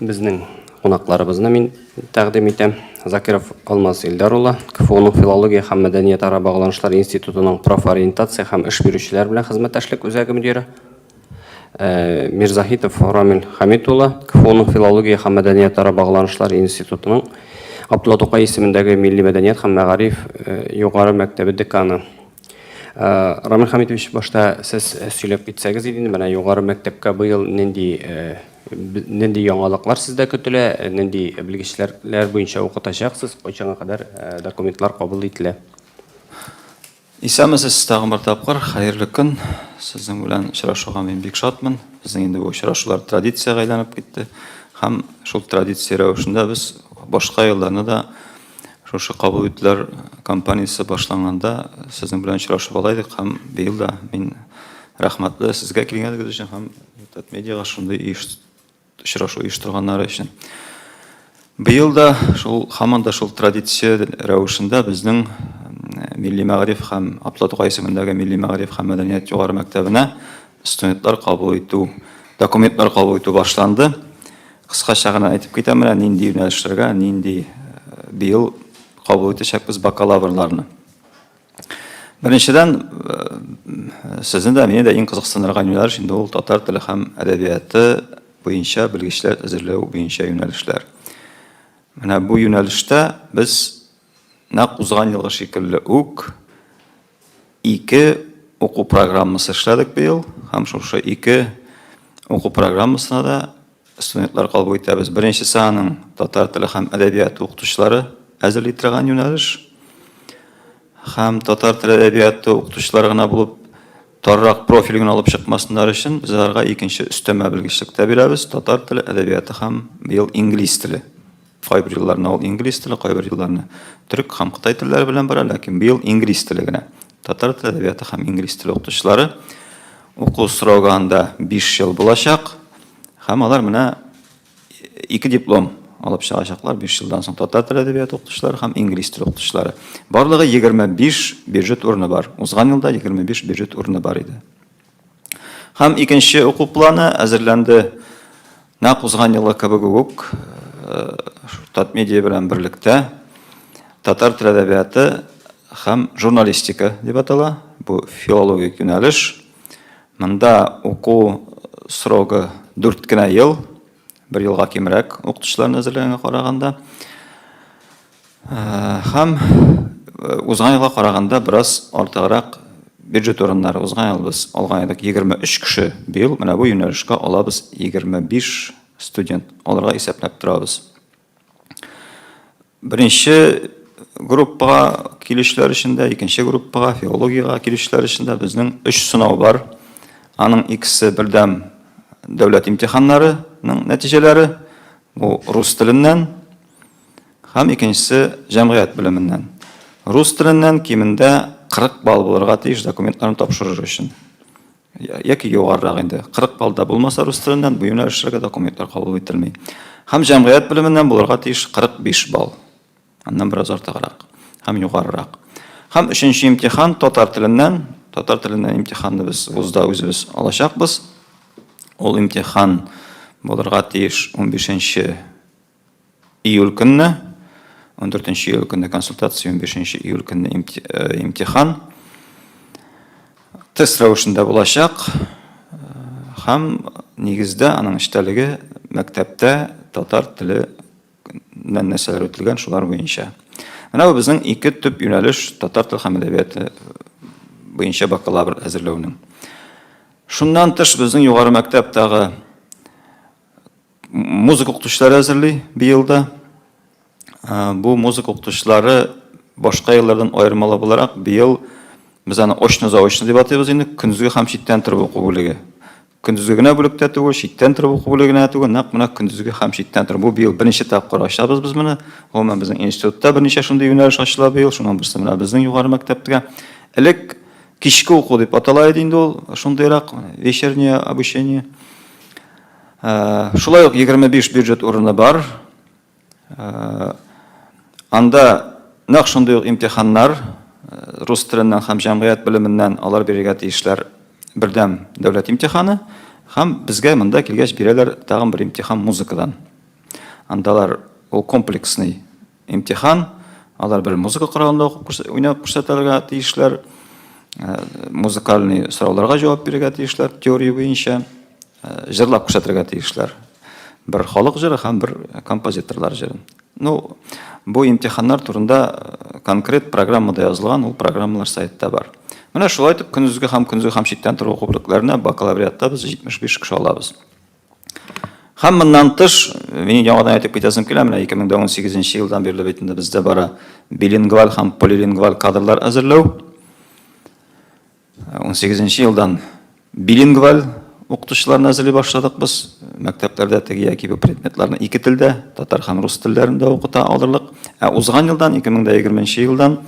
Безнең кунакларыбызны мин тәкъдим итәм. Закиров Алмаз Илдар улы, КФУның филология һәм мәдәният ара багланышлар институтының профориентация һәм эш бирүчеләр белән хезмәттәшлек үзәге мөдире. Э, Мирзахитов Рамил Хамит улы, КФУның филология һәм мәдәният ара багланышлар институтының Абдулла Тукай исемендәге милли мәдәният һәм мәгариф э, югары мәктәбе деканы. Рамил Хамитович, башта сез сөйләп китсәгез иде инде, менә югары мәктәпкә быел нинди, нинди яңалыклар сездә көтелә, нинди белгечләр буенча укытачаксыз, кайчанга кадәр документлар кабул ителә? Исәнмесез, тагын бер тапкыр хәерле көн! Сезнең белән очрашуга мин бик шатмын. Безнең инде бу очрашулар традициягә әйләнеп китте һәм шул традиция рәвешендә без башка елларны да, Шушы кабул итүләр кампаниясе башланганда сезнең белән очрашып ала идек һәм быел да мин рәхмәтле сезгә килгәнегез өчен һәм Татмедиага шундый очрашу оештырганнары өчен. Быел да шул һаман да шул традиция рәвешендә безнең милли мәгариф һәм Аплатуга исемендәге милли мәгариф һәм мәдәният югары мәктәбенә Студентлар кабул итү, документлар кабул итү башланды. Кыскача гына әйтеп китәм, менә нинди юнәлешләргә, нинди быел кабул итәчәкбез бакалаврларны. Беренчедән, сезне дә, мине дә иң кызыксындырган юнәлеш инде ул татар теле һәм әдәбияты буенча белгечләр әзерләү буенча юнәлешләр. Менә бу юнәлештә без Нәкъ узган елгы шикелле үк ике уку программасы эшләдек быел һәм шушы ике уку программасына да студентлар кабул итәбез. Беренчесе аның татар теле һәм әдәбияты укытучылары әзерли торган юнәлеш һәм татар теле әдәбияты укытучылары гына булып торрак профиль генә алып чыкмасыннар өчен без аларга икенче өстәмә белгечлек тә бирәбез татар теле әдәбияты һәм быел инглиз теле Кайбер елларны ул инглиз теле, кайбер елларны төрек һәм кытай телләре белән бара, ләкин быел инглиз теле генә. Татар теле әдәбияты һәм инглиз теле укытучылары уку срогы анда 5 ел булачак һәм алар менә ике диплом алып чыгачаклар 5 елдан соң татар теле әдәбияты укытучылары һәм инглиз теле укытучылары. Барлыгы 25 бюджет урыны бар. Узган елда 25 бюджет урыны бар иде. Һәм икенче уку планы әзерләнде. Нәкъ узган елы кебек үк Татмедиа белән берлектә татар тел әдәбияты һәм журналистика дип атала. Бу филологик юнәлеш. Монда уку срогы 4 кенә ел, бер елга кимрәк укытучыларны әзерләгәнгә караганда. Һәм узган елга караганда бераз артыграк бюджет урыннары узган ел без алган идек 23 кеше, быел менә бу юнәлешкә алабыз 25 студент, алырга исәпләп торабыз. Беренче группага килүчеләр өчен дә, икенче группага, филологиягә килүчеләр өчен дә безнең өч сынау бар. Аның икесе бердәм дәүләт имтиханнарының нәтиҗәләре, бу рус теленнән, һәм икенчесе җәмгыять белеменнән. Рус теленнән кимендә 40 балл булырга тиеш документларын тапшырыр өчен. Яки югарырак инде. 40 балл да булмаса рус теленнән бу юнәлешләргә документлар кабул ителми. Һәм җәмгыять белеменнән булырга тиеш 45 балл. Аннан бераз артыграк һәм югарырак. Һәм өченче имтихан татар теленнән, татар теленнән имтиханны без вузда үзебез алачакбыз. Ул имтихан булырга тиеш 15 Июль көнне, ундүртенче июль көнне консультация, унбишенче июль көнне имтихан. Тест рәвешендә булачак һәм нигездә аның эчтәлеге мәктәптә татар теле белән нәрсәләр үтелгән, шулар буенча. Менә бу безнең ике төп юнәлеш татар теле һәм әдәбияты буенча бакалавр әзерләүнең. Шуннан тыш безнең югары мәктәптәге Музыка укытучылары әзерли быел да. Бу музыка укытучылары башка еллардан аермалы буларак, быел без аны очно-заочно дип атыйбыз инде, көндезге һәм читтән торып уку бүлеге. Көндезге генә бүлектә түгел, читтән торып уку бүлеге генә түгел, нәкъ менә көндезге һәм читтән торып. Бу быел беренче тапкыр ачабыз без моны. Гомумән, безнең институтта берничә шундый юнәлеш ачыла быел, шуның берсе менә безнең югары мәктәптә. Элек кичке уку дип атала иде инде ул, шундыйрак вечернее обучение. Шулай ук 25 бюджет урыны бар. Анда нәкъ шундый ук имтиханнар, рус теленнән һәм җәмгыять белеменнән алар бирергә тиешләр бердәм дәүләт имтиханы һәм безгә монда килгәч бирәләр тагын бер имтихан музыкадан. Андалар ул комплексный имтихан, алар бер музыка коралында уйнап күрсәтергә тиешләр, музыкальный сорауларга җавап бирергә тиешләр теория буенча, Җырлап күрсәтергә тиешләр. Бер халык җыры һәм бер композиторлар җырын. Ну, бу имтиханнар турында конкрет программада язылган, ул программалар сайтта бар. Менә шулай итеп, көндезге һәм көндезге һәм читтән тору уку бүлекләренә бакалавриатта без 75 кеше алабыз. Һәм моннан тыш, мин яңадан әйтеп китәсем килә, менә 2018 елдан бирле бит инде бездә бара билингваль һәм полилингваль кадрлар әзерләү. 18 нче елдан билингваль укытучыларны әзерли башладык без. Мәктәпләрдә теге яки бу предметларны ике телдә, татар һәм рус телләрендә укыта алырлык. Ә узган елдан, 2020 нче елдан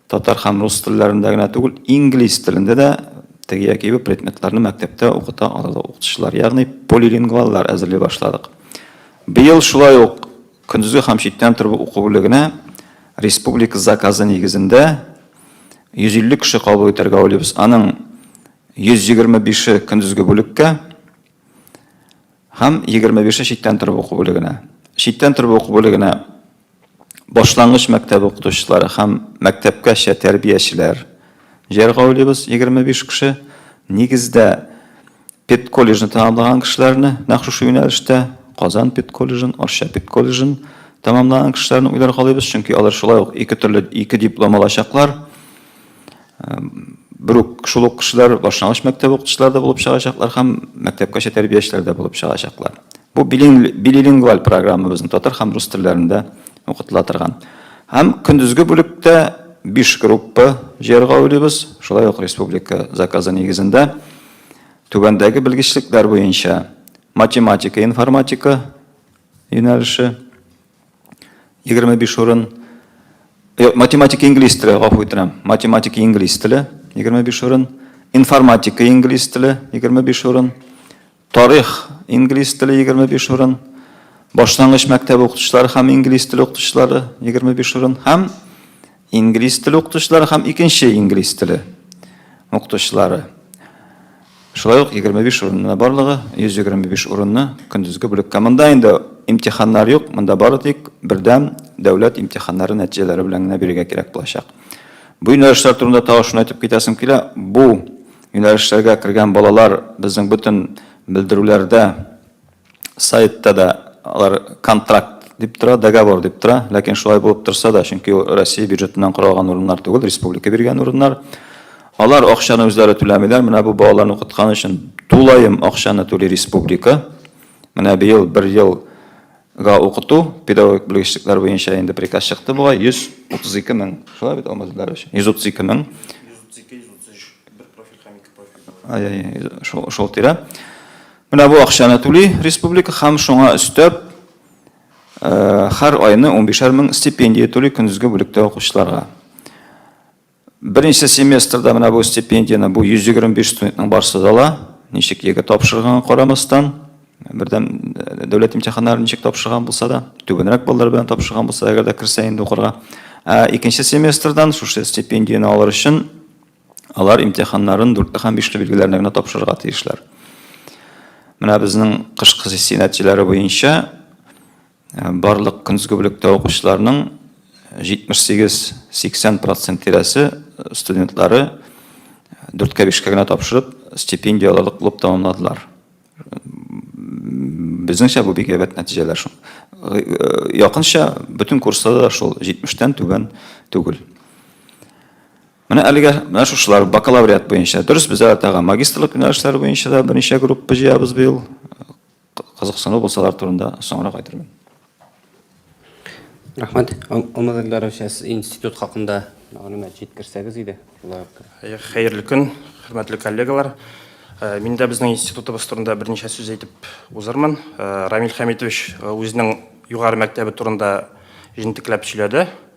татар һәм рус телләрендә генә түгел, инглиз телендә дә теге яки бу предметларны мәктәптә укыта алырлык укытучылар, ягъни полилингваллар әзерли башладык. Быел шулай ук Көндезге һәм читтән тору уку бүлегенә республика заказы нигезендә 150 кеше кабул итәргә уйлыйбыз. Аның 125-е көндезге бүлеккә һәм 25-е читтән тору уку бүлегенә. Читтән тору уку бүлегенә башлангыч мәктәп укытучылары һәм мәктәпкәчә тәрбиячеләр җыярга уйлыйбыз, 25 кеше. Нигездә, Педколледжны тәмамлаган кешеләрне нәкъ шушы юнәлештә, Казан педколледжын, Арча педколледжын тәмамлаган кешеләрне уйлар калыйбыз, чөнки алар шулай ук ике төрле ике диплом алачаклар. Бер үк шул ук кешеләр башлангыч мәктәп укытучылары да булып чыгачаклар һәм мәктәпкәчә тәрбиячеләр дә булып чыгачаклар. Бу билилингваль программа безнең татар һәм рус телләрендә укытыла торган. Һәм көндезге бүлектә биш группа җыярга уйлыйбыз, шулай ук республика заказы нигезендә. Түбәндәге белгечлекләр буенча математика, информатика юнәлеше 25 урын, э, математика инглиз теле, гафу үтенәм, математика инглиз теле 25 урын, информатика инглиз теле 25 урын, тарих инглиз теле 25 урын, башлангыч мәктәп укытучылары һәм инглиз теле укытучылары 25 урын һәм Инглиз теле укытучылары һәм икенче инглиз теле укытучылары. Шулай ук 25 урынына барлыгы 125 урынны көндезге бүлеккә. Монда инде имтиханнар юк, монда бары тик бердәм дәүләт имтиханнары нәтиҗәләре белән генә бирергә кирәк булачак. Бу юнәлешләр турында тагы шуны әйтеп китәсем килә. Бу юнәлешләргә кергән балалар безнең бөтен белдерүләрдә Сайтта да алар контракт дип тора, договор дип тора. Ләкин шулай булып торса да, чөнки ул Россия бюджетыннан коралган урыннар түгел, республика биргән урыннар. Алар акчаны үзләре түләмиләр. Менә бу балаларны укыткан өчен тулаем акчаны түли республика. Менә быел бер елга укыту педагогик белгечлекләр буенча инде приказ чыкты бугай 132 мең. Шулай бит, Алмаз Илдарович? 132 мең. 132, 133, бер профиль һәм ике профиль. Ай-яй, шул, шул тирә. Менә бу акчаны түли республика һәм шуңа өстәп һәр айны унбишәр мең стипендия түли көндезге бүлектә укучыларга. Беренче семестрда менә бу стипендияне бу 125 студентның барысы да ала. Ничек егет тапшырганга карамастан, бердәм дәүләт имтиханнарын ничек тапшырган булса да, түбәнрәк баллар белән тапшырган булса, әгәр дә керсә инде укырга. Ә икенче семестрдан шушы стипендияне алыр өчен Алар имтиханнарын дүртле һәм бишле билгеләрне генә тапшырырга тиешләр. Менә безнең кышкы сессия нәтиҗәләре буенча э, барлык көндезге бүлектә укучыларның 78-80 процент тирәсе э, студентлары дүрткә бишкә генә тапшырып стипендия алырлык булып тәмамладылар безнеңчә бу бик әйбәт нәтиҗәләр шул э, якынча бөтен курсларда да шул 70 түбән түгел Менә әлегә менә шушылар бакалавриат буенча. Дөрес, без тагын магистрлык юнәлешләре буенча да берничә группа җыябыз быел. Кызыксыну булсалар турында соңрак әйтермен. Рәхмәт. Алмаз Эльдарович, институт хакында мәгълүмат җиткерсәгез иде. Хәерле көн, хөрмәтле коллегалар. Мин дә безнең институтыбыз турында берничә сүз әйтеп узырмын. Рамил Хәмитович үзенең югары мәктәбе турында җентекләп сөйләде.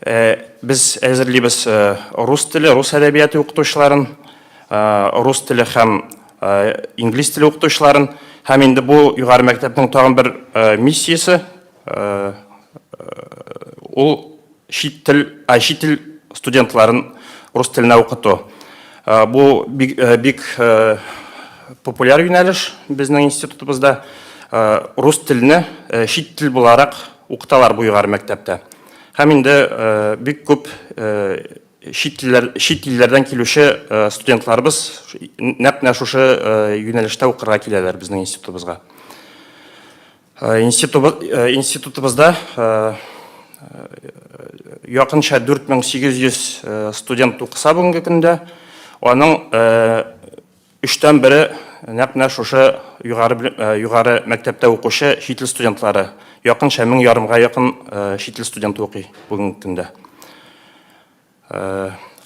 Э, без әзерлибез э, рус теле, рус әдәбияты укытучыларын, э, рус теле һәм инглиз теле укытучыларын. Һәм инде бу югары мәктәпнең тагын бер миссиясе ул чит тел, а чит тел студентларын рус теленә укыту. Бу бик, бик популяр юнәлеш безнең институтыбызда. Рус телене чит тел буларак укыталар бу югары мәктәптә. Һәм инде бик күп чит илләр чит илләрдән килүче студентларыбыз нәкъ менә шушы юнәлештә укырга киләләр безнең институтыбызга. Институтыбызда якынча 4800 студент укыса бүгенге көндә, аның Өчтән бере нәкъ менә шушы югары мәктәптә укучы чит ил студентлары. Якынча мең ярымга якын чит ил студенты укый бүгенге көндә.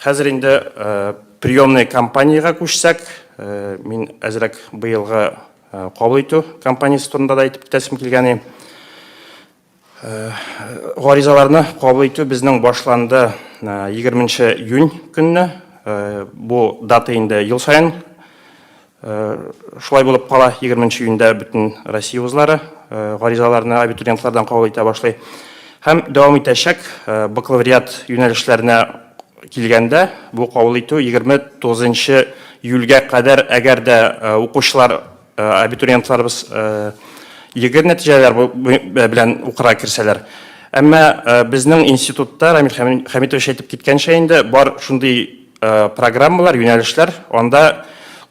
Хәзер инде приемный кампаниягә күчсәк, мин әзрәк быелгы кабул итү кампаниясе турында да әйтеп китәсем килгәни. Гаризаларны кабул итү безнең башланды 20 нче июнь көнне. Бу дата инде ел саен шулай булып кала. 20 нче июньдә бөтен Россия вузлары гаризаларны абитуриентлардан кабул итә башлый. Һәм дәвам итәчәк. Бакалавриат юнәлешләренә килгәндә, бу кабул итү 29 нчы июльгә кадәр, әгәр дә укучылар абитуриентларыбыз егет нәтиҗәләр белән укырга керсәләр. Әмма безнең институтта, Рамил Хәмитович әйтеп киткәнчә инде, бар шундый программалар, юнәлешләр, анда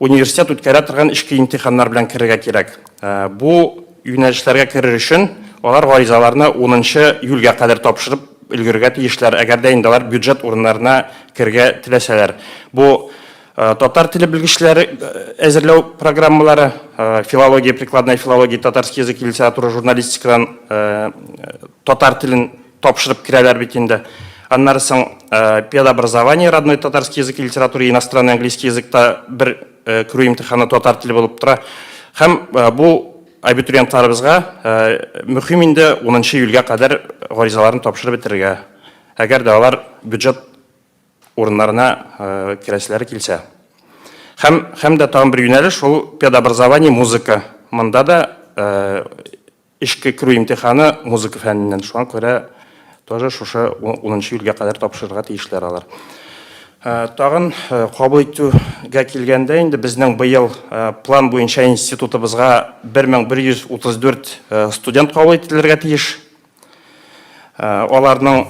университет үткәрә торган эчке имтиханнар белән керергә кирәк. Бу юнәлешләргә керер өчен алар гаризаларны 10нчы июльгә кадәр тапшырып өлгерергә тиешләр, әгәр дә инде алар бюджет урыннарына керергә теләсәләр. Бу Э, татар теле белгечләре э, әзерләү программалары э, филология прикладная филология татарский язык и литература журналистикадан татар телен тапшырып керәләр бит инде аннары соң педобразование родной татарский язык и литература и иностранный английский языкта бер керү имтиханы татар теле булып тора һәм бу абитуриентларыбызга мөһим инде унынчы июльгә кадәр гаризаларын тапшырып бетерергә әгәр дә алар бюджет урыннарына керәселәре килсә. Һәм, һәм дә тагын бер юнәлеш, шул педобразование, музыка. Монда да эшкә керү имтиханы музыка фәненнән. Шуңа күрә тоже шушы 10 июльгә кадәр тапшырырга тиешләр алар. Тагын кабул итүгә килгәндә, инде безнең быел план буенча институтыбызга 1134 студент кабул ителергә тиеш. Аларның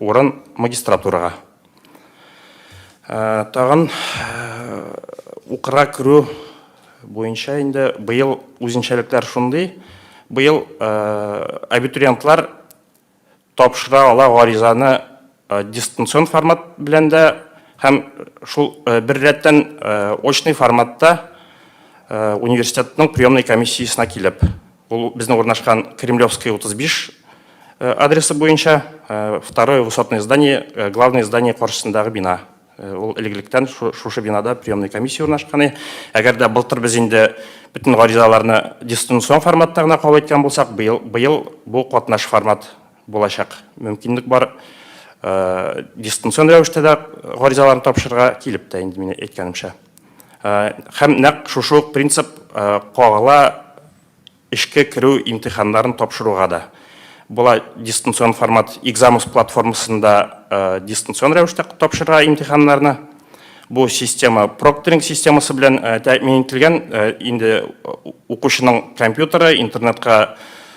Урын магистратурага. Тагын укырга керү буенча инде быел үзенчәлекләр шундый. Быел абитуриентлар тапшыра ала гаризаны дистанцион формат белән дә һәм шул бер рәттән очный форматта университетның приемный комиссиясенә килеп. Ул безнең урнашкан Кремлевская 35 адресы буенча, второе высотное здание, главное здание каршысындагы бина. Ул элек-электән шушы бинада приемный комиссия урнашкан. Әгәр дә былтыр без инде бөтен гаризаларны дистанцион форматта гына кабул иткән булсак, быел бу катнаш формат Булачак мөмкинлек бар. Дистанцион рәвештә дә гаризаларны тапшырырга килеп тә инде, мин әйткәнемчә. Һәм нәкъ шушы ук принцип кагыла эшкә керү имтиханнарын тапшыруга да. Була дистанцион формат, Examus платформасында дистанцион рәвештә тапшырырга имтиханнарны. Бу система прокторинг системасы белән тәэмин ителгән. Инде укучының компьютеры, интернетка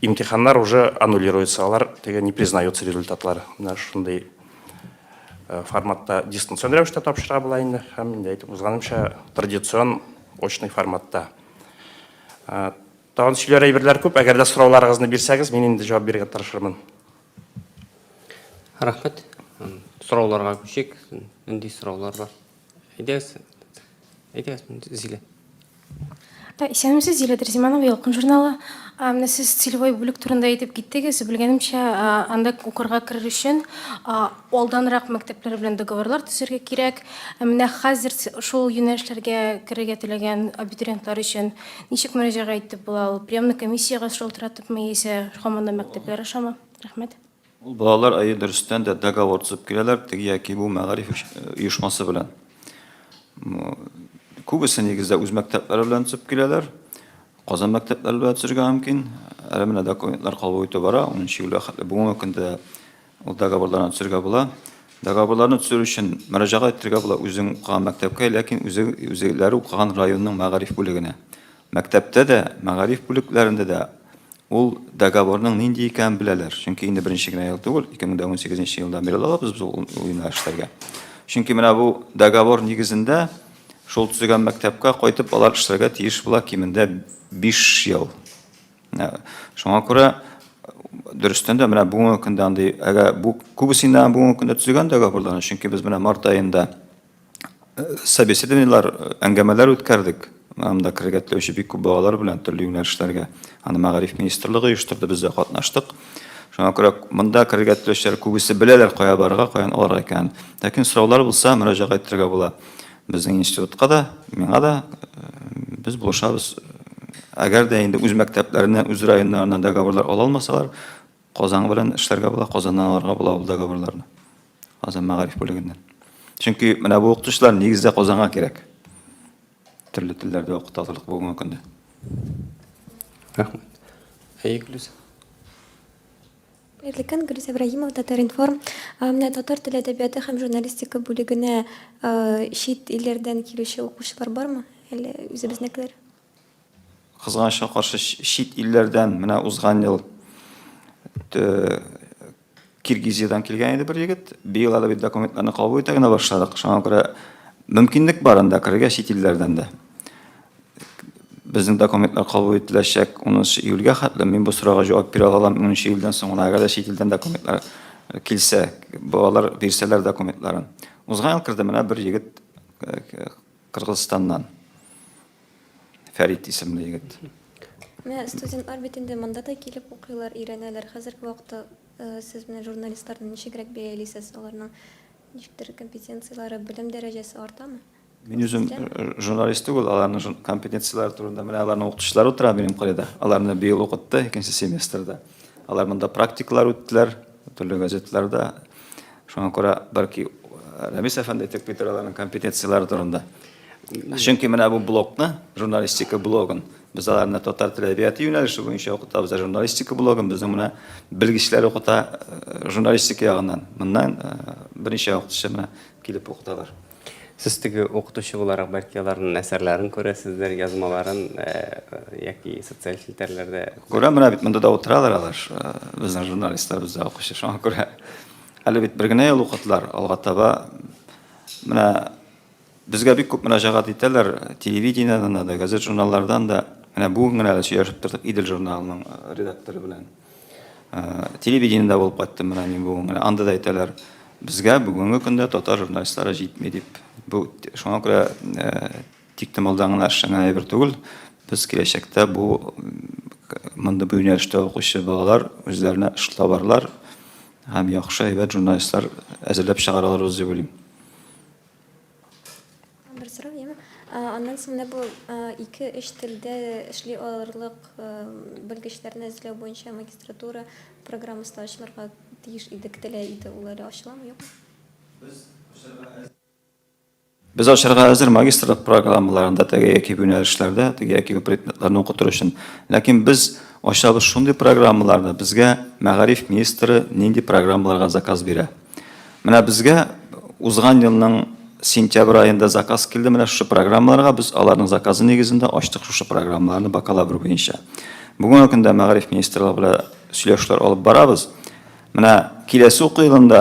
Имтиханнар уже аннулируется, алар теге не признаются результатлар. Менә шундый э, форматта дистанцион рәвештә тапшыра була инде һәм инде әйтеп узганымча традицион очный форматта. Э, тагын сөйләр әйберләр күп, әгәр дә сорауларыгызны бирсәгез, мин инде җавап бирергә тырышырмын. Рәхмәт. Сорауларга күчик. Нинди сораулар бар? Әйдәгез, әйдәгез, Зилә. Исәнмесез, Зилә Дәрзиманова, Ялкын журналы. Менә сез целевой бүлек турында әйтеп киттегез. Белгәнемчә, анда укырга керер өчен алданрак мәктәпләр белән договорлар төзергә кирәк. Менә хәзер шул юнәлешләргә керергә теләгән абитуриентлар өчен ничек мөрәҗәгать итеп була ул? Приемный комиссиягә шалтыратыпмы яисә һаман да мәктәпләр ашамы? Рәхмәт. Ул балалар, әйе, дөрестән дә договор төзеп киләләр, теге яки бу мәгариф оешмасы белән. Күбесе нигездә үз мәктәпләре белән төзеп киләләр. Казан мәктәпләре белән төзергә мөмкин. Әле менә документлар кабул итү бара, 10 июльгә хәтле бүгенге көндә ул договорларны төзергә була. Договорларны төзер өчен мөрәҗәгать итәргә була үзең укыган мәктәпкә, ләкин үзе үзеләре укыган районның мәгариф бүлегенә. Мәктәптә дә, мәгариф бүлекләрендә дә ул договорның нинди икәнен беләләр. Чөнки инде беренче генә ел түгел, 2018 нче елдан бирле алабыз без ул уена эшләргә. Чөнки менә бу договор нигезендә шул төзегән мәктәпкә кайтып алар эшләргә тиеш була кимендә биш ел. Менә шуңа күрә дөрестән дә менә бүгенге көндә андый, әгәр бу күбесеннән бүгенге көндә төзегән договорларны, чөнки без менә март аенда Собеседованиелар, әңгәмәләр үткәрдек. Анда керергә теләүче бик күп балалар белән төрле юнәлешләргә. Аны Мәгариф министрлыгы оештырды, без дә катнаштык. Шуңа күрә монда керергә теләүчеләр күбесе беләләр, кая барырга, каян алырга икәнен. Ләкин сораулар булса, мөрәҗәгать итәргә була. Безнең институтка да, миңа да. Без булышабыз. Әгәр дә инде үз мәктәпләреннән, үз районнарыннан договорлар ала алмасалар, Казан белән эшләргә була, Казаннан алырга була ул договорларны. Казан мәгариф бүлегеннән. Чөнки менә бу укытучылар нигездә Казанга кирәк. Төрле телләрдә укыталырлык бүгенге көндә. Рәхмәт. Әйе, Гөлүс. Хәерле көн, Гөлүс Ибраһимова, Татар-информ. Менә татар теле әдәбияты һәм журналистика бүлегенә чит илләрдән килүче укучылар бармы? Әллә үзебезнекеләр? Кызганычка каршы, чит илләрдән менә узган ел Киргизиядән килгән иде бер егет. Быел әле бит документларны кабул итә генә башладык. Шуңа күрә мөмкинлек бар анда керергә чит илләрдән дә. Безнең документлар кабул ителәчәк 10 июльгә хәтле. Мин бу сорауга җавап бирә алам 10 июльдән соң гына, әгәр дә чит илдән документлар килсә, балалар бирсәләр документларын. Узган ел керде менә бер егет Кыргызстаннан Фәрит исемле егет. Менә студентлар бит инде монда да килеп укыйлар, өйрәнәләр. Хәзерге вакытта сез менә журналистларны ничегрәк бәялисез? Аларның ничектер компетенцияләре, белем дәрәҗәсе артамы? Мин үзем журналист түгел, аларның компетенцияләре турында менә аларның укытучылары утыра минем каеда. Аларны быел укытты, икенче семестрда. Алар монда практикалар үттеләр. Төрле газетларда шуңа күрә бәлки Рәмис әфәнде әйтеп китер аларның компетенцияләре турында. Чөнки менә бу блокны, журналистика блогын без аларны татар теле әдәбияты юнәлеше буенча укытабыз, ә журналистика блогын безнең менә белгечләр укыта журналистика ягыннан. Моннан берничә вакыт эчендә килеп укыталар. Сез теге укытучы буларак, бәлки, аларның әсәрләрен күрәсездер, язмаларын яки социаль челтәрләрдә? Күрәм, менә бит монда да утыралар алар, безнең журналистлар, бездә укучы, шуңа күрә. Әле бит бер генә ел укыдылар, алга таба менә безгә бик күп мөрәҗәгать итәләр, телевидениедән дә, газет-журналлардан да. Менә бүген генә сөйләшеп тордык Идел журналының редакторы белән. Телевидениедә булып кайттым менә мин бүген генә. Анда да әйтәләр, безгә бүгенге көндә татар журналистлары җитми дип. Бу шуңа күрә тиктомалдан гына эшләнгән әйбер түгел. Без киләчәктә бу мондый бу юнәлештә укучы балалар үзләренә эш табарлар һәм яхшы әйбәт журналистлар әзерләп чыгаралар дип уйлыйм. Бер сорау яме. Аннан соң менә бу ике өч телдә эшли алырлык белгечләрне эзләү буенча магистратура программасы да ачылырга тиеш иде, көтелә иде. Ул әле ачыламы, юкмы? Без ачарга әзер магистрлык программаларында теге яки бу юнәлешләрдә, теге яки бу предметларны укытыр өчен. Ләкин без ачабыз шундый программаларны, безгә мәгариф министры нинди программаларга заказ бирә. Менә безгә узган елның сентябрь аенда заказ килде, менә шушы программаларга без аларның заказы нигезендә ачтык шушы программаларны бакалавр буенча. Бүгенге көндә мәгариф министрлыгы белән сөйләшүләр алып барабыз. Менә киләсе уку елында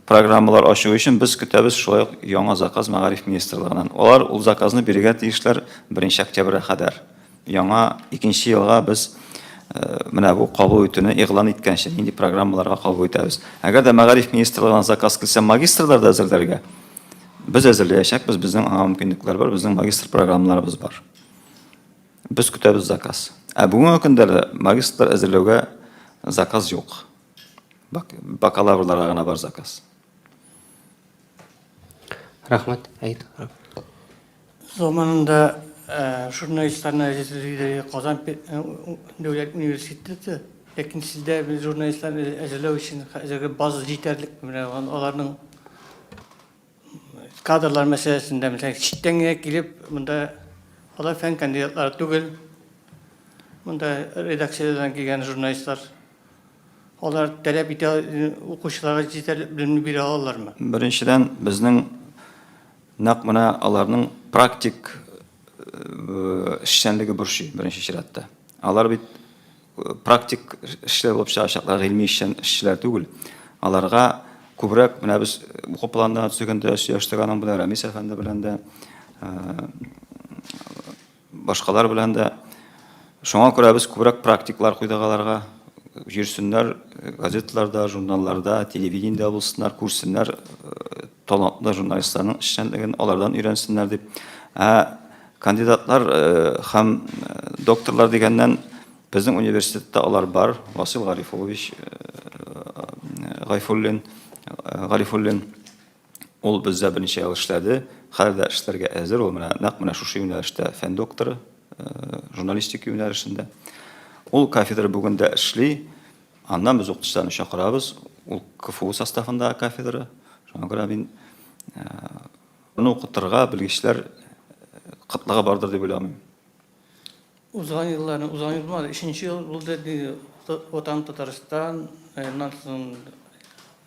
программалар ачу өчен без көтәбез шулай ук яңа заказ мәгариф министрлыгыннан. Алар ул заказны бирергә тиешләр 1 октябрьгә кадәр. Яңа икенче елга без менә бу кабул итүне игълан иткәнче нинди программаларга кабул итәбез. Әгәр дә мәгариф министрлыгына заказ килсә магистрлар да әзерләргә, без әзерләячәкбез, безнең аңа мөмкинлекләр бар, безнең магистр программаларыбыз бар. Без көтәбез заказ. Ә бүгенге көндә дә магистрлар әзерләүгә заказ юк. Бакалаврларга гына бар заказ. Рәхмәт, әйт. Заманында журналистларны әзерлиләр Казан дәүләт университеты, ләкин сездә журналистларны әзерләү өчен хәзерге база җитәрлек, менә аларның кадрлар мәсьәләсендә, мәсәлән, читтән генә килеп, монда алар фән кандидатлары түгел, монда редакциядән килгән журналистлар. Алар таләп итә укучыларга җитәрлек белемне бирә алалармы? Беренчедән, безнең нәкъ менә аларның практик эшчәнлеге борчый беренче чиратта. Алар бит практик эшләр булып чыгачаклар, гыйльми эшчәнләр түгел. Аларга күбрәк менә без уку планына төзегәндә сөйләштек аның белән Рәмис әфәнде белән дә. Башкалар белән дә. Шуңа күрә без күбрәк практиклар куйдык аларга. Йөрсеннәр, газеталарда, журналларда, телевидениедә булсыннар, күрсеннәр талантлы журналистларның эшчәнлеген, алардан өйрәнсеннәр дип. Ә кандидатлар һәм докторлар дигәннән, безнең университетта алар бар, Васил Гарифуллович Гайфуллин, Гарифуллин. Ул бездә берничә ел эшләде, хәзер дә эшләргә әзер. Ул менә нәкъ менә шушы юнәлештә, фән докторы, журналистика юнәлешендә. Ул кафедра бүген дә эшли. Аннан без укытучыларны чакырабыз. Ул КФУ составындагы кафедра. Шуңа күрә мин аны укытырга белгечләр кытлыгы бардыр дип уйламыйм. Узган елларны, узган ел булмады, өченче ел булды, ди, Ватан Татарстан, аннан соң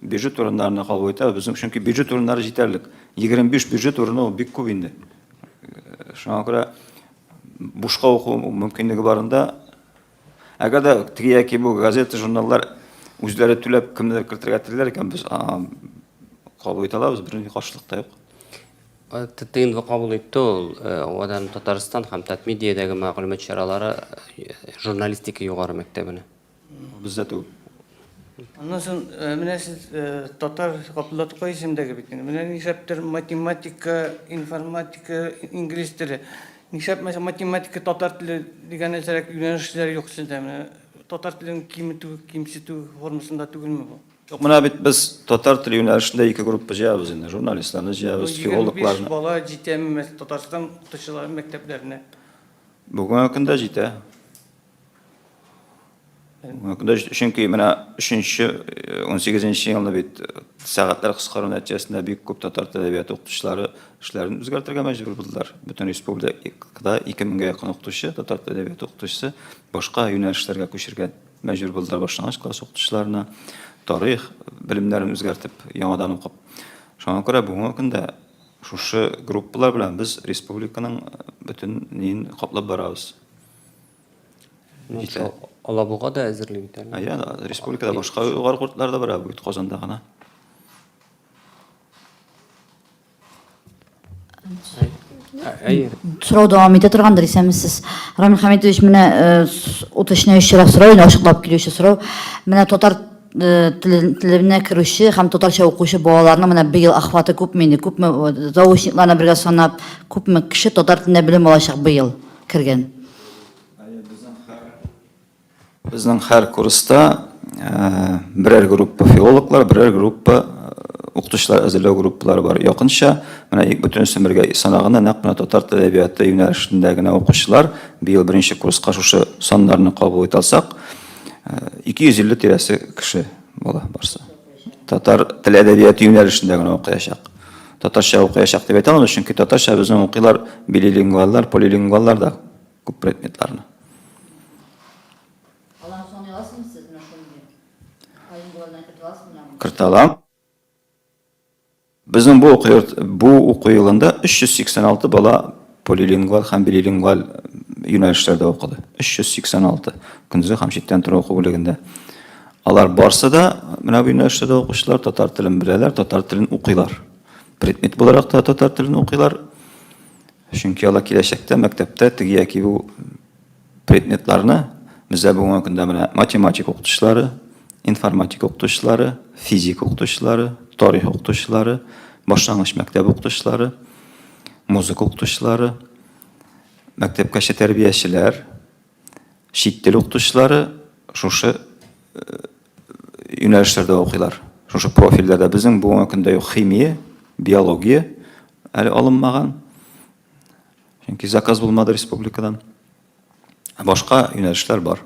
Бюджет урыннарына кагу итәбез. Безнең чөнки бюджет урыннары җитәрлек. 25 бюджет урыны ул бик күп инде. Шуңа күрә бушка уку мөмкинлеге барында, әгәр дә теге яки бу газета, журналлар үзләре түләп кемнедер кертергә телиләр икән, без кабул итә алабыз, бернинди каршылык та юк. Тыйнлы кабул итте ул. Авадан Татарстан һәм Татмедиядәге мәгълүмат чаралары журналистика югары мәктәбенә. Бездә түгел. Аннан соң, э, менә сез э, татар Габдулла Тукай исемдәге бит инде. Менә нишләптер математика, информатика, инглиз теле. Нишләп мәсәлән математика, татар теле дигән нәрсәрәк юнәлешләр юк сездә? Менә татар телен киметү, кимсетү формасында түгелме бу? Юк, менә бит без татар теле юнәлешендә ике группа җыябыз инде. Журналистларны җыябыз, Егерме биш филологларны. бала җитәме мәс- Татарстан укытучылары мәктәпләренә? Бүгенге көндә җитә. Чөнки менә өченче, унсигезенче елны бит сәгатьләр кыскару нәтиҗәсендә бик күп татар теле әдәбияты укытучылары эшләрен үзгәртергә мәҗбүр булдылар. Бөтен республикада 2000гә якын укытучы, татар теле әдәбияты укытучысы башка юнәлешләргә күчергә мәҗбүр булдылар, башлангыч класс укытучыларына тарих белемнәрен үзгәртеп, яңадан укып. Шуңа күрә бүгенге көндә шушы группалар белән без республиканың бөтен ниен каплап барабыз. Җитә. Алабуга да әзерли бит әле. Әйе, республикада башка югары кортлар да бар, бит Казанда гына. Әйе. Сорау дәвам итә торгандыр, исәнмесез. Рамил Хәмитович, менә уточняю чирак сорау, инде ачыклап килүче сорау. Менә татар Э, телебенә керүче һәм татарча укучы балаларның менә быел охваты күпме инде күпме заочникларны бергә санап күпме кеше татар телендә белем алачак быел кергән. Безнең һәр курста берәр группа филологлар, берәр группа укытучылар әзерләү группалары бар. Якынча, менә ик бөтенесен бергә санаганда, нәкъ менә татар теле әдәбияты юнәлешендә генә укучылар быел беренче курска шушы саннарны кабул итә алсак, 250 тирәсе кеше бала барсы. Татар теле әдәбияты юнәлешендә генә укыячак. Татарча укыячак дип әйтә алмыйм, чөнки татарча безнең укыйлар билилингваллар, полилингваллар да күп предметларны. Алан сон яласың сез менә шундый. Кайын булганда кертә аласың менә. Кертә алам. Безнең бу уку йорт, бу уку елында 386 бала полилингваль һәм билилингваль юнәлешләрдә укыды. 386 көндезге һәм читтән тору уку бүлегендә. Алар барсы да менә бу юнәлештә укучылар татар телен беләләр, татар телен укыйлар. Предмет буларак та татар телен укыйлар. Чөнки алар киләчәктә мәктәптә теге яки бу Предметларны бездә бүгенге көндә менә математик укытучылары, информатик укытучылары, физик укытучылары, тарих укытучылары, башлангыч мәктәп укытучылары, музыка укытучылары, мәктәпкәчә тәрбиячеләр, чит тел укытучылары шушы юнәлешләрдә укыйлар. Шушы профильләрдә безнең бүгенге көндә юк химия, биология әле алынмаган. Чөнки заказ булмады республикадан. Ә башка юнәлешләр бар.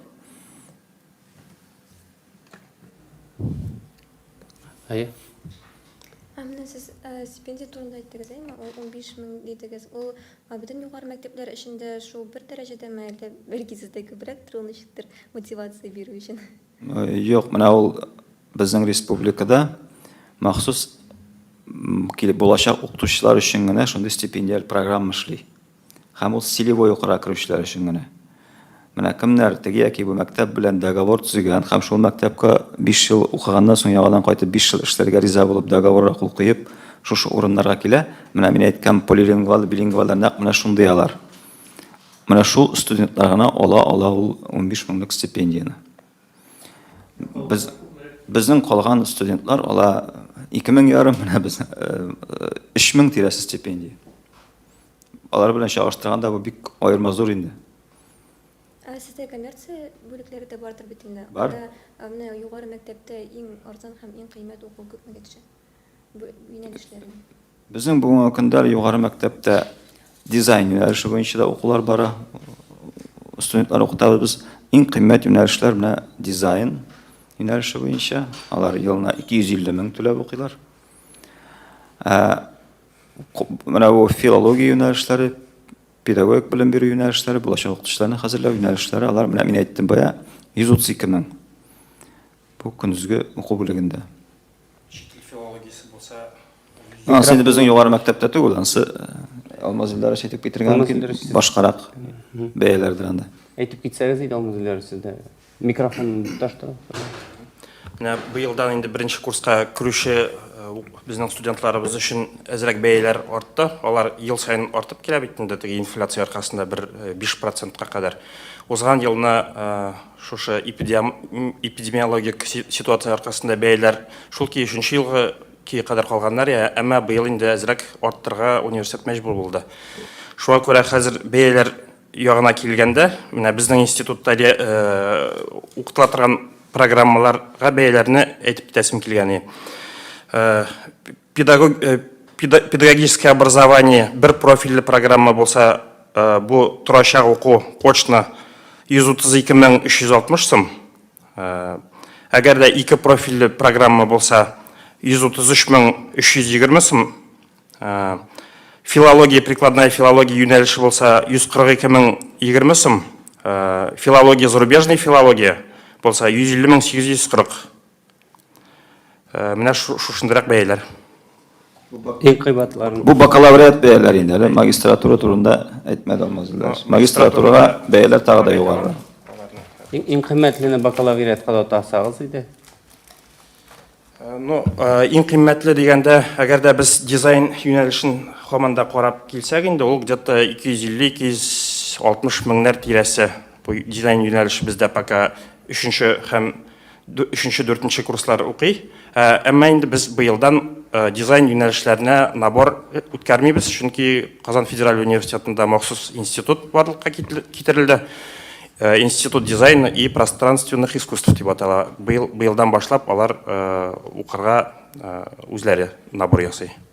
Әйе. Ә менә сез э, стипендия турында әйттегез, әйме? Ул 15 мең дидегез. Ул бөтен югары мәктәпләр эчендә шул бер дәрәҗәдәме, әллә бер гизедә күбрәктер, ул ничектер мотивация бирү өчен? Юк, менә ул безнең республикада махсус килеп булачак укытучылар өчен генә шундый стипендиаль программа эшли. Һәм ул целевой укырга керүчеләр өчен генә. Менә кемнәр теге яки бу мәктәп белән договор төзегән һәм шул мәктәпкә 5 ел укыганнан соң яңадан кайтып 5 ел эшләргә риза булып договорга кул куеп, шушы урыннарга килә. Менә мин әйткән полилингвал, билингваллар нәкъ менә шундый алар. Менә шул студентлар гына ала ала ул 15 меңлек стипендияне. Без безнең калган студентлар ала 2 мең ярым, менә без 3 мең тирәсе стипендия. Алар белән чагыштырганда бу бик аерма зур инде. Ә сездә коммерция бүлекләре дә бардыр бит инде. Бар. Менә югары мәктәптә иң арзан һәм иң кыйммәт уку күпмегә төшә? юнәлешләрен. Безнең бүгенге көндә югары мәктәптә дизайн юнәлеше буенча да укулар бара. Студентлар укытабыз без. Иң кыйммәт юнәлешләр менә дизайн юнәлеше буенча. Алар елына 250 мең түләп укыйлар. Менә бу филология юнәлешләре, педагогик белем бирү юнәлешләре, булачак укытучыларны хәзерләү юнәлешләре, алар менә мин әйттем бая 132 мең. Бу көндезге уку бүлегендә. Чит ил филологиясе булса, Ансы инде безнең югары мәктәптә түгел, ансы Алмаз Илдара әйтеп китергән мөмкин башкарак бәяләрдер анда. Әйтеп китсәгез иде Алмаз Илдара сездә микрофон таш тора. Менә быелдан инде беренче курска керүче безнең студентларыбыз өчен әзрәк бәяләр артты. Алар ел саен артып килә бит инде теге инфляция аркасында бер 5 процентка кадәр. Узган елны Шушы эпидемиологик ситуация аркасында бәяләр шул ки өченче елгы ки кадәр калганнар, я әмма быел инде әзрәк арттырырга университет мәҗбүр булды. Шуңа күрә хәзер бәяләр ягына килгәндә, менә безнең институтта укытыла торган программаларга бәяләрне әйтеп бетәсем килгәни. Педагогическое образование бер профильле программа булса, э, бу торачак уку кочны 132360 сум. Э, әгәр дә ике профильле программа булса, 133320 сум. Э, филология, прикладная филология юнәлеше булса, 142020 сум. Филология, зарубежная филология булса, 150840. Э, менә шушындырак бәяләр. Иң кыйбатларын. Бу бакалавриат бәяләре инде, әле магистратура турында әйтмәде алмазлар. Магистратурага бәяләр тагы да югары. Иң кыйммәтлене бакалавриатка да тасагыз иде. Э, ну, э, иң кыйммәтле дигәндә, әгәр дә без дизайн юнәлешен һаман да карап килсәк инде, ул где-то 250-260 меңнәр тирәсе. Бу дизайн юнәлеше бездә пока 3 һәм Өченче, дүртенче курслар укый. Әмма инде без быелдан дизайн юнәлешләренә набор үткәрмибез, чөнки Казан федераль университетында махсус институт барлыкка китерелде. Институт дизайна и пространственных искусств дип атала. Быелдан башлап алар укырга үзләре набор ясый.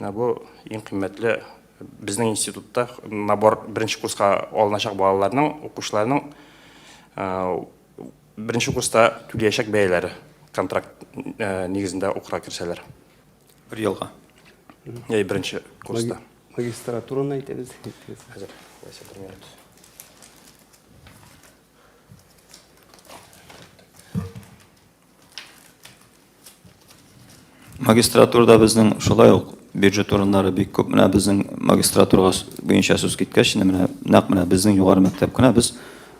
Менә бу иң кыйммәтле безнең институтта набор беренче курска алыначак балаларның, укучыларның беренче курста түләячәк бәяләре контракт нигезендә укырга керсәләр. Бер елга. Яи беренче курста. Магистратураны әйтегез. Хәзер, кайсы бер минут. Магистратурада безнең шулай ук бюджет урыннары бик күп. Менә безнең магистратура буенча сүз киткәч, менә нәкъ менә безнең югары мәктәп кенә без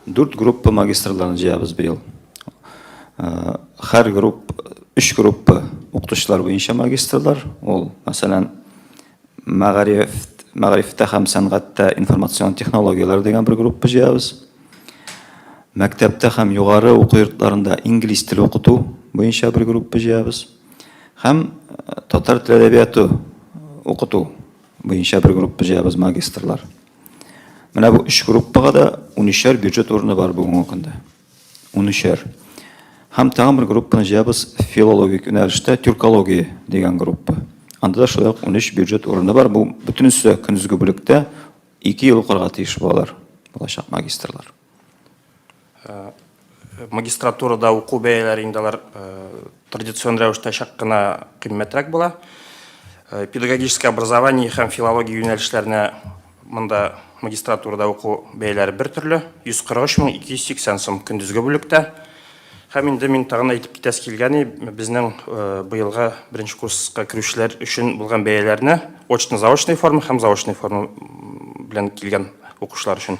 дүрт группа магистрларны җыябыз быел. Э, һәр групп, өч группа укытучылар буенча магистрлар, ул, мәсәлән, Мәгариф, мәгарифтә һәм сәнгатьтә информацион технологияләр дигән бер группа җыябыз. Мәктәптә һәм югары уку йортларында инглиз теле укыту буенча бер группа җыябыз. Һәм татар теле әдәбияты укыту буенча бер группа җыябыз магистрлар. Менә бу өч группага да унөчәр бюджет урыны бар бүгенге көндә. Унөчәр. Һәм тагын бер группаны җыябыз филологик юнәлештә тюркология дигән группа. Анда да шулай ук унөч бюджет урыны бар. Бу бөтенесе көндезге бүлектә ике ел укырга тиеш балалар, булачак магистрлар. Магистратурада уку бәяләре инде алар Традицион рәвештә чак кына кыйммәтрәк була. Педагогическое образование һәм филология юнәлешләренә монда магистратурада уку бәяләре бер төрле, 143 мең 280 сум көндезге бүлектә. Һәм инде мин тагын әйтеп китәсе килгәни, безнең быелгы беренче курска керүчеләр өчен булган бәяләрне очно-заочный форма һәм заочный форма белән килгән укучылар өчен.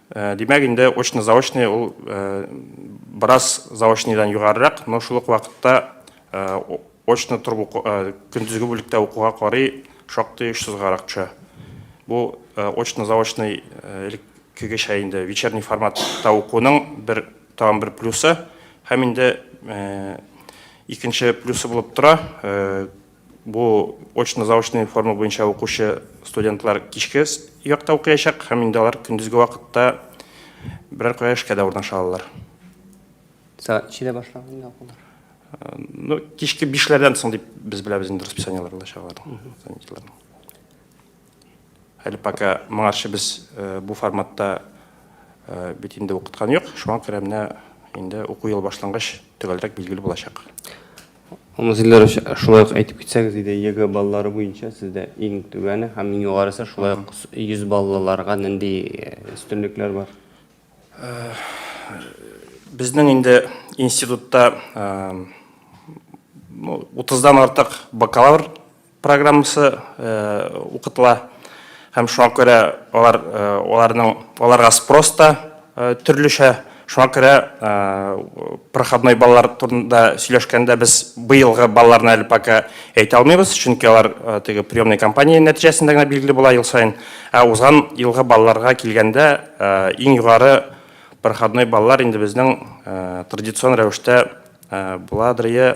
Э, димәк инде очно заочный ул э, бераз заочныйдан югарырак но шул ук вакытта э, очно торып көндезге бүлектә укуга карый шактый очсызгарак төшә бу очно заочный элеккегечә инде вечерний форматта укуның бер тагын бер плюсы һәм инде икенче плюсы булып тора Бу очно-заочный форма буенча укучы студентлар кичке якта укыячак һәм инде алар көндезге вакытта берәр кая эшкә дә урнаша алалар. Сәгать ничәдә башланып инде укулар? Ну, кичке бишләрдән соң дип без беләбез инде расписаниеләр булачак аларның, занятиеләрнең. Әле пока моңарчы без бу форматта бит инде укыткан юк, шуңа күрә менә инде уку елы башлангач төгәлрәк билгеле булачак. Алмаз Ильдарович, шулай ук әйтеп китсәгез иде, ЕГЭ баллары буенча сездә иң түбәне һәм иң югарысы, шулай ук 100 баллыларга нинди өстенлекләр бар? Безнең инде институтта 30 дан артык бакалавр программасы укытыла һәм шуңа күрә алар аларның аларга спрос та төрлечә шуңа күрә проходной балалар турында сөйләшкәндә без быелгы балаларны әле пока әйтә алмыйбыз чөнки алар теге приемный кампания нәтиҗәсендә генә билгеле була ел саен ә узган елгы балаларга килгәндә иң югары проходной балалар инде безнең традицион рәвештә буладрые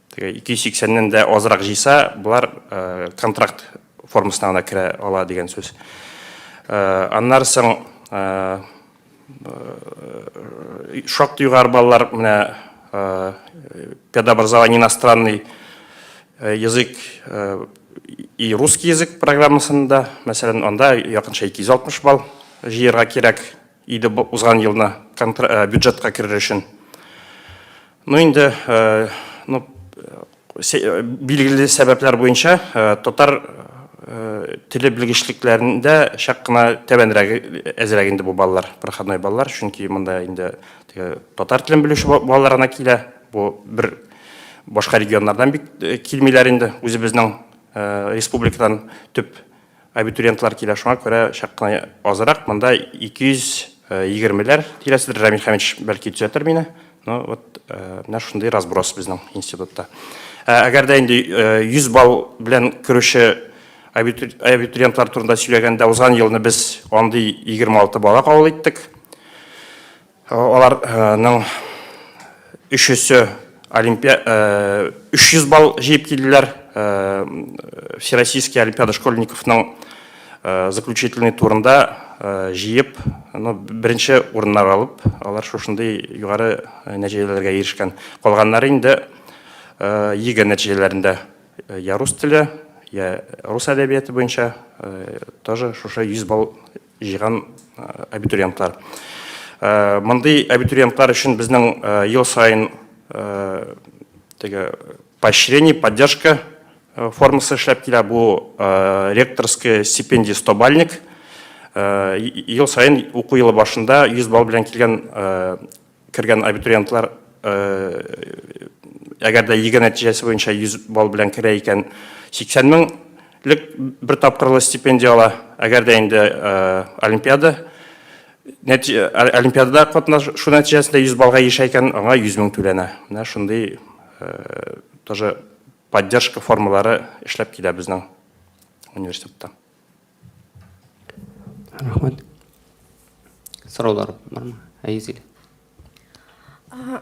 Теге 280 нен дә азрак җыйса, болар контракт формасына гына керә ала дигән сүз. Аннары соң шактый югары баллар менә педобразование иностранный язык и русский язык программасында, мәсәлән, анда якынча 260 балл җыярга кирәк. Иде бу узган елны бюджетка керер өчен. Ну инде, ну билгеле сәбәпләр буенча татар теле белгечлекләрендә чак кына тәбәнрәге әзрәк инде бу балалар, проходной балалар, чөнки монда инде татар телен белүче балалар гына килә. Бу бер башка регионнардан бик килмиләр инде, үзебезнең республикадан төп Абитуриентлар килә, шуңа күрә чак кына азрак, монда 220 ләр тирәседер, Рамил Хәмитович бәлки төзәтер мине. Ну, вот, менә шундый разброс безнең институтта. Әгәр дә инде 100 балл белән керүче абитуриентлар турында сөйләгәндә, узган елны без андый 26 бала кабул иттек. Аларның өчесе олимпия 300 балл җыеп килделәр. Всероссийский олимпиада школьниковның заключительный турында җыеп, ну, беренче урыннар алып, алар шушындый югары нәтиҗәләргә ирешкән. Калганнары инде ЕГЭ нәтиҗәләрендә я рус теле, я рус әдәбияты буенча тоже шушы 100 балл җыйган абитуриентлар. Мондый абитуриентлар өчен безнең ел саен теге поощрение, поддержка формасы эшләп килә. Бу ректорская стипендия 100 бальник. Ел саен уку елы башында 100 балл белән килгән кергән абитуриентлар, әгәр дә ЕГЭ нәтиҗәсе буенча 100 балл белән керә икән, 80 меңлек бер тапкырлы стипендия ала. Әгәр дә инде олимпиада олимпиадада катнашу нәтиҗәсендә 100 баллга ирешә икән, аңа 100 мең түләнә. Менә шундый тоже поддержка формалары эшләп килә безнең университетта. рахмәт сораулар бармы әйзилә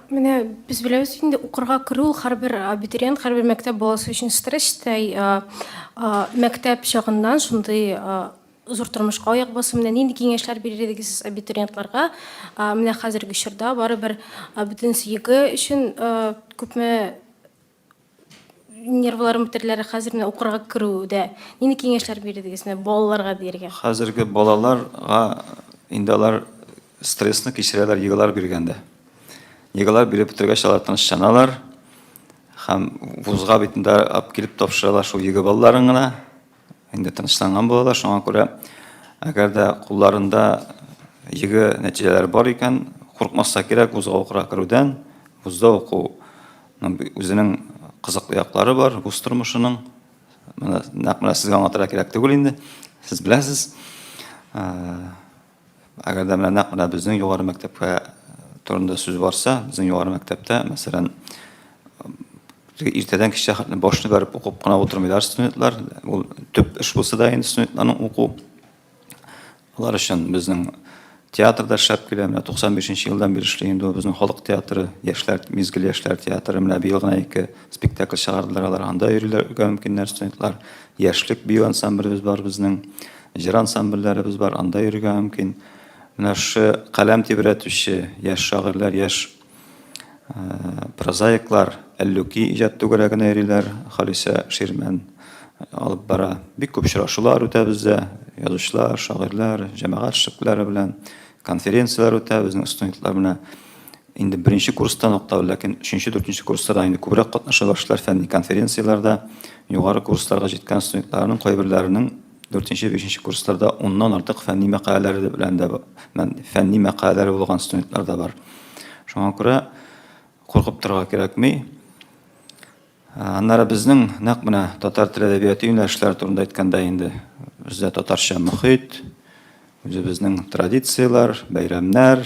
Менә без беләбез инде укырга керү һәрбер абитуриент, һәрбер мәктәп баласы өчен стресстәй. Мәктәп чагыннан шундый зур тормышка аяк басу менә нинди киңәшләр бирер идегез сез абитуриентларга? Менә хәзерге чорда барыбер бөтен сөеге өчен күпме Нервларым бетереләр, хәзер менә укырга керүдә нинди киңәшләр бирдегез менә балаларга дияргә? Хәзерге балаларга инде алар стрессны кичерәләр йогалар биргәндә. Йогалар биреп бетергәч, алар тынычланалар һәм вузга бит инде килеп тапшыралар шул йога балаларын гына. Инде тынычланган булалар, шуңа күрә әгәр дә кулларында йөге нәтиҗәләре бар икән, куркмаска кирәк вузга укырга керүдән, вузда уку үзенең кызыклы яклары бар, вуз тормышының. Менә нәкъ менә сезгә аңлатырга кирәк түгел инде, сез беләсез. Әгәр дә менә нәкъ менә безнең югары мәктәпкә турында сүз барса, безнең югары мәктәптә, мәсәлән, иртәдән кичә хәтле башны бәреп укып кына утырмыйлар студентлар. Ул төп эш булса да инде студентларның уку. Алар өчен безнең театр да шәп килә. Менә 95 нче елдан бирле эшли инде безнең халык театры, яшьләр, мизгел яшьләр театры. Менә быел гына ике спектакль чыгардылар алар. Анда йөриләр, үтә мөмкиннәр студентлар. Яшьлек бию ансамблебез бар безнең. Җыр ансамбльләребез бар, анда йөрергә мөмкин. Менә шушы каләм тибрәтүче яшь шагыйрьләр, яшь прозаиклар Әллүки иҗат түгәрәгенә йөриләр, Халисә Ширмән алып бара. Бик күп очрашулар үтә бездә, язучылар, шагыйрьләр, җәмәгать эшлеклеләре белән конференцияләр үтә, безнең студентлар менә инде беренче курстан ук та, ләкин өченче, дүртенче курсларда инде күбрәк катнаша башлар фәнни конференцияләрдә. Югары курсларга җиткән студентларның кайберләренең Дүртенче, бишенче курсларда уннан артык фәнни мәкаләләре белән дә фәнни мәкаләләре булган студентлар да бар. Шуңа күрә куркып торырга кирәкми. Аннары безнең нәкъ менә татар теле әдәбияты юнәлешләре турында әйткәндә инде бездә татарча мөхит, үзебезнең традицияләр, бәйрәмнәр,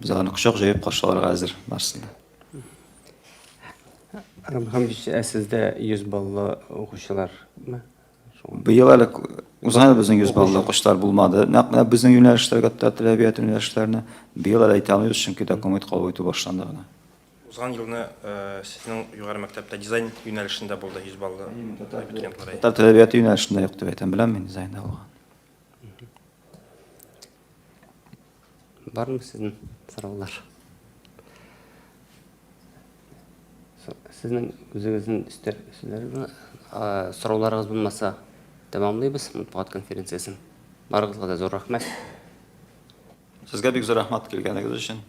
Без аны кочак җәеп каршыларга әзер барсын да. Рабхамович, ә сездә 100 баллы укучылармы? Быел әле узган безнең 100 баллы укучылар булмады. Нәкъ менә безнең юнәлешләргә тәрбият юнәлешләренә быел әле әйтә алмыйбыз, чөнки документ кабул итү башланды гына. Узган елны сезнең югары мәктәптә дизайн юнәлешендә булды 100 баллы абитуриентлар. Татар тәрбияте юнәлешендә юк дип әйтәм, беләм мин дизайнда булган. Бармы сезнең сораулар? Сезнең үзегезнең өстәр сүзләрегезме? Сорауларыгыз булмаса, тәмамлыйбыз матбугат конференциясен. Барыгызга да зур рәхмәт. Сезгә бик зур рәхмәт килгәнегез өчен.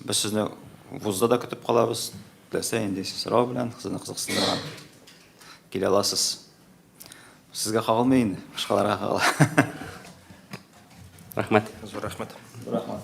Без сезне вузда да көтеп калабыз. Теләсә нинди сорау белән, сезне кызыксындырган килә аласыз. Сезгә кагылмый инде, башкаларга кагыла. Рәхмәт. Зур рәхмәт. Рәхмәт.